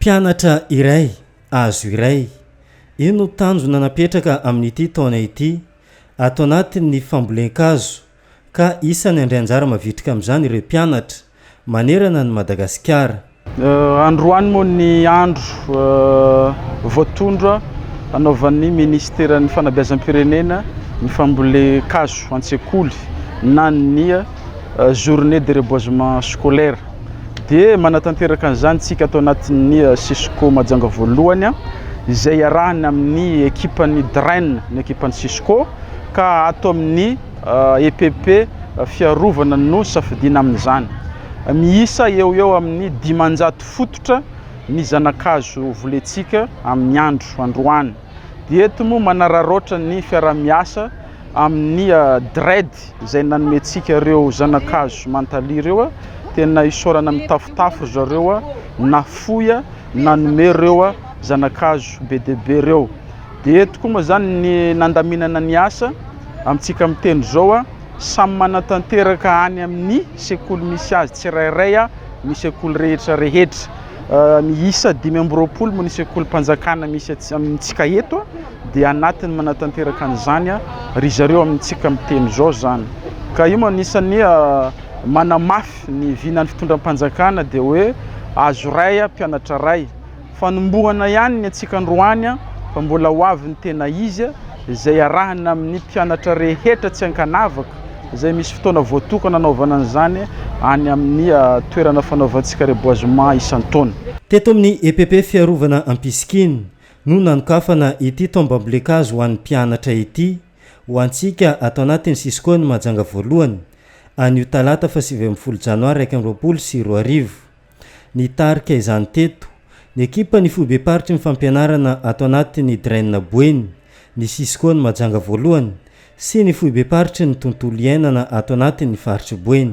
Mpianatra iray, azo iray. Io no tanjona napetraka amin'ity taona ity, ato anatin'ny fambolen-kazo, ka isany handray anjara mavitrika amin'izany ireo mpianatra, manerana an'i Madagasikara. Androany moa ny andro voatondro hanaovan'ny Minisiteran'ny Fanabeazam-pirenena ny fambolen-kazo an-tsekoly, na ny journée de reboisement scolaire. dia manatanteraka an'izany isika ato anatin'ny eh, Cisco Majanga voalohany ah, izay iarahana amin'ny ekipan'ny DREN, ny ekipan'ny Cisco, ka ato amin'ny EPP eh, e fiarovana no safidiana amin'izany. Miisa eo eo amin'ny dimanjato fototra ny zanakazo volentsika amin'ny andro androany. Dia eto moa manararaotra ny fiaraha-miasa amin'ny DREDD izay nanomentsika ireo zana-kazo mantali ireo. Tena isaorana mitafotafo ry zareo nafoy nanome ireo zana-kazo be dia be ireo. Dia eto koa moa izany ny nandaminana ny asa amintsika miteny izao, samy manatanteraka any amin'ny sekoly misy azy tsirairay ny sekoly rehetra rehetra. miisa dimy amby roapolo moa ny sekolim-panjakana misy atsy amintsika eto dia anatiny manatanteraka an'izany ry zareo amintsika miteny izao izany ka io manisan'ny manamafy ny vinan'ny fitondram-panjakana dia hoe azo ray a mpianatra ray fanombohana ihany ny antsika androany a fa mbola ho avy ny tena izy izay arahana amin'ny mpianatra rehetra tsy ankanavaka izay misy fotoana voatokana hanaovana an'izany any amin'ny toerana fanaovantsika reboisement isan-taona. Teto amin'ny epp Fiarovana Ampisikiny no nanokafana ity taom-bambolen-kazo ho an'ny mpianatra ity ho antsika ato anatin'ny Cisco-n'i Mahajanga voalohany anio talata fahasivy ambin'ny folo janoary iraika amby roapolo sy roa arivo. Nitarika izany teto ny ekipan'ny foibem-paritry ny fampianarana ato anatin'ny Dren Boeny, ny Cisco ny Mahajanga voalohany sy ny foibem-paritry ny tontolo iainana ato anatin'ny faritr'i Boeny.